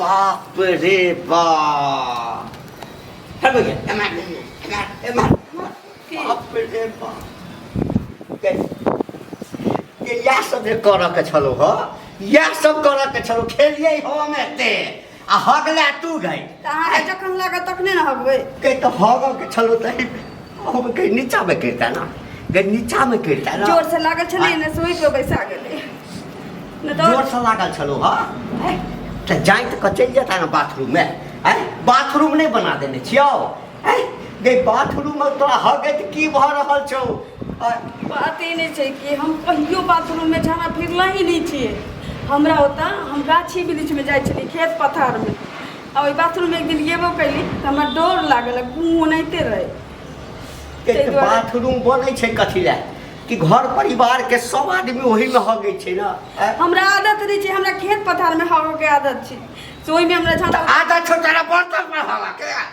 बाप रे बाप हट गया एमआर एमआर एमआर बाप रे बाप इएह सब जे करऽके छलौ हँ इएह सब करऽके छलौ खेलियै हम एते आ हक ला तू गई तऽ अहाँके जखन लागत तखने ने हगबै कहीं तो हग के छलो तही हम कहीं नीचा में गिरता ना कहीं नीचा में गिरता ना जोर से लागल छलै ने सोइ के बैसा गेलै ने जोर तऽ से लागल छलो हा तो जाए तो चल जाता ना बाथरूम में आय बाथरूम नहीं बना देने छियो है गई बाथरूम में तोरा हगैत की भऽ रहल छौ आ, बाते नहि छै कि हम कहियो बाथरूममे जाना फिरला ही नहि छियै हमरा ओतऽ हम गाछी वृक्षमे जाइ छलियै खेत पथारमे आ ओहि बाथरूममे एक दिन गेबो कैली तऽ हमरा डर लागल गुँ ओनाहिते रहै ताहि एक दुआरे- बाथरूम बनै छै कथी लए कि घर परिवार के सब आदमी ओही में हगै छै ना आ, हमरा आदत नहि छै हमरा खेत पथारमे हगयके आदत छै से ओहिमे हमरा तऽ जाना आधा छोटा बर्तन में हगा के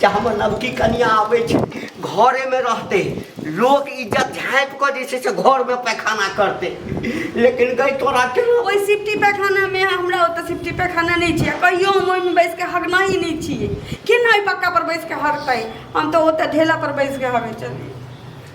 जे हमर नवकी कनिया आबै छै घरेमे रहतै लोक इज्जत झाँपि कऽ जे छै से घरमे पैखाना करतै लेकिन गई तोरा के ओहि सिफ्टी पैखानामे हमरा ओतऽ सिफ्टी पैखाना नहि छै कहियो हम ओहिमे बैस कऽ हगना ही नहि छियै केना ओहि पक्का पर बैस कऽ हगतै हम तऽ ओतऽ ढेला पर बैस कऽ हगै छलियै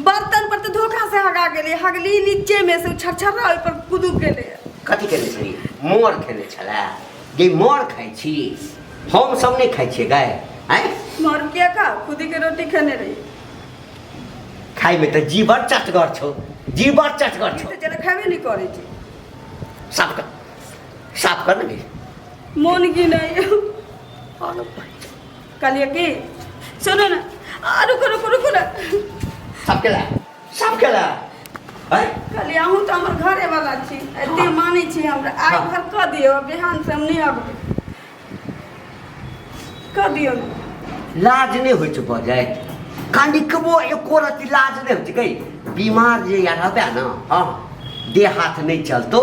बर्तन पर तऽ धोखा से हगा गेलै हगली नीचे में से छरछरा ओहि पर कुदू गेलै कथी केने छलियै मोर खेने छलै जे मोर खाइ छी हम सब नहि खाइ छियै गाय आँय मर किया खा खुदी के रोटी खेने रही खाइमे तऽ जी बड़ चटगर छौ जी बड़ चटगर छौ जेना खेबे नहि करै छी साफ कर साफ कर ने मोन की नहि कहलिए कि सुनू ने आ, रुकू रुकू रुकू ने सबके ला सबके ला हैं? कहलिए अहूँ तऽ हमर घरे वाला छी एते मानै छी हमरा आइ हँ। भर कऽ दियौ बिहान से हम नहि अबबै कऽ दियौ ने लाज नहि होइ छै बजै कनिकबो एको रति लाज नहि होइ छै कै बीमार जे या रहबै ने हँ देह हाथ नहि चलतौ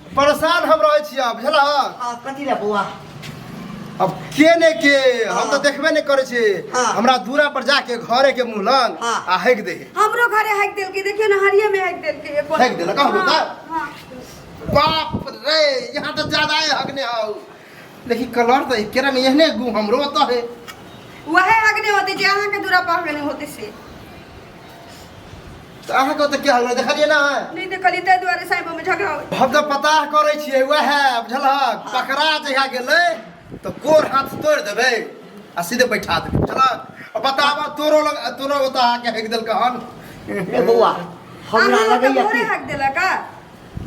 परेशान हम रहै छी आब बुझला हाँ, कथी रे बौआ अब के ने के हम हाँ। तो देखबे नहीं करे छी हाँ। हमरा दूरा पर जाके घरे के मुंह लग हाँ। आ हैक दे हमरो घरे हैक देल के देखियो ना हरिये में हैक देल के एको हैक देलक, कहबो हाँ, त? हाँ। बाप रे यहाँ तो ज्यादा है हक ने आओ लेकिन कलर तो केरा में यहने गु हमरो तो है वहे हक नहीं होते जे अहाँ के दूरा पर हक नहीं होते से तऽ अहाँके ओतऽ की हाल देखलियै ना नहीं देखली ते द्वारे साइबो में झगड़ा हो हम तऽ पता करै छियै वएह बुझलहक पकड़ा जहिया गेलै तऽ गोर हाथ तोड़ देबै आ सीधे बैठा देबै बुझलहक बताब तोरो लग तोरो ओतऽ आके हेक देलकै हन ए बौआ हमरा लगैया कि हक देला का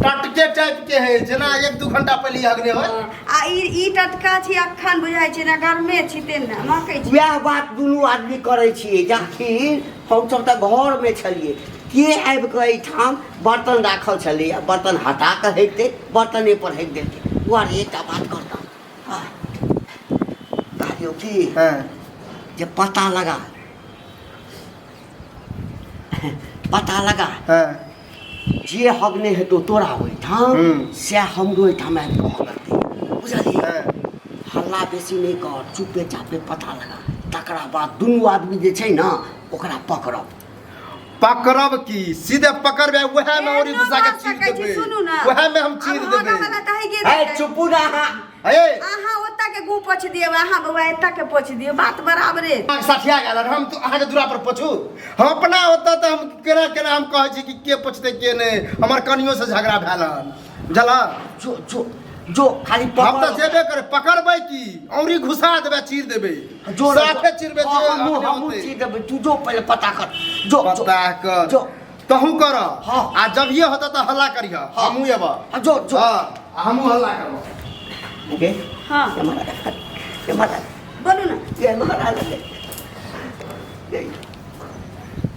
टटके टाइप के है जेना एक दू घंटा पहले अगने हो आ ई ई टटका छी अखन बुझाइ छै ना गर्मे छी तेन ना मकै छी वएह बात दुनू आदमी करै छियै जखन हमसभ तऽ घरमे छलियै के आबि कऽ एहिठाम बर्तन राखल छलै आ बर्तन हटा कऽ हटि दे बर्तने पर हटि देलकै वाह एकटा बात करता आह, कहलियौ की हैं जे पता लगा पता लगा हँ जे हग नहि हेतौ तोरा ओहिठाम हूँ। सएह हमरो ओहिठाम आबि कऽ हगतै बुझलियै हँ हल्ला बेसी नहि कर चुपे चापे पता लगा तकरा बाद दुनू आदमी जे छै ने ओकरा पकड़ब पकड़ब की सीधे पकड़बे उएह में ओरी घुसा के चीर देबे उएह में हम चीर देबे है चुपू ना हे अहाँ ओतऽ के गू पोछ दियौ अहाँ बौआ एतऽ के पोछ दियौ बात बराबरे अहाँ सठिया गेल हन, हम तो अहाँ के दूरा पर पोछू हम अपना होता तो हम केना केना हम कहै छी कि के पोछते के नहीं हमर कनियो से झगड़ा भेल हन बुझला जो जो जो खाली हम तो पकड़ जेबे करे पकड़बै की औरी घुसा देबे चीर देबे जो साफे चीरबे जे हमू अपने हमू होतै। चीर देबै तू जो पहिले पता कर जो जो पता कर जो तहूँ कर हाँ। आ जब ये होता तो हल्ला करिह हाँ। हमहूँ एब हाँ, जो जो हाँ आ हमहूँ हल्ला करब ओके हाँ ये महाराज ये महाराज बोलू ना ये महाराज ले। ये।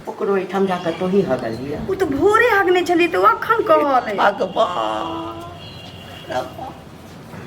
ओकरो एहिठाम जाके तो ही हगल लिया उ तो भोरे हगने छली तो अखन कहल है भगवान